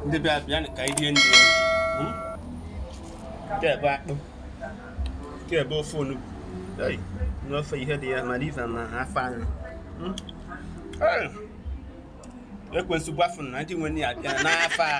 ndị bịa bịanụ ka anyị rie nri hmm? kee ebe akpụ kee ebe ofe onugbu n'ofe ihe dị ya mara ife na afọ anyị hmm? ekwensu gbafu na ndị nwe ya bịa n'afọ a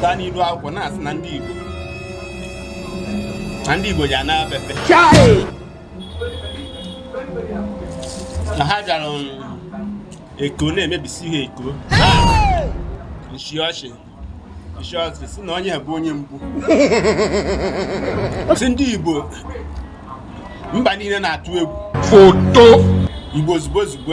gaa n'iru akwụkwọ na-asị na ndị Igbo na ndị Igbo ji ana pepe na ha bịara um, Eko na-emebisi ha Eko nshi ọchị nshi ọchị si na onye bụ onye mbụ si ndị Igbo mba niile na-atụ egwu foto Igbo ozugbo ozugbo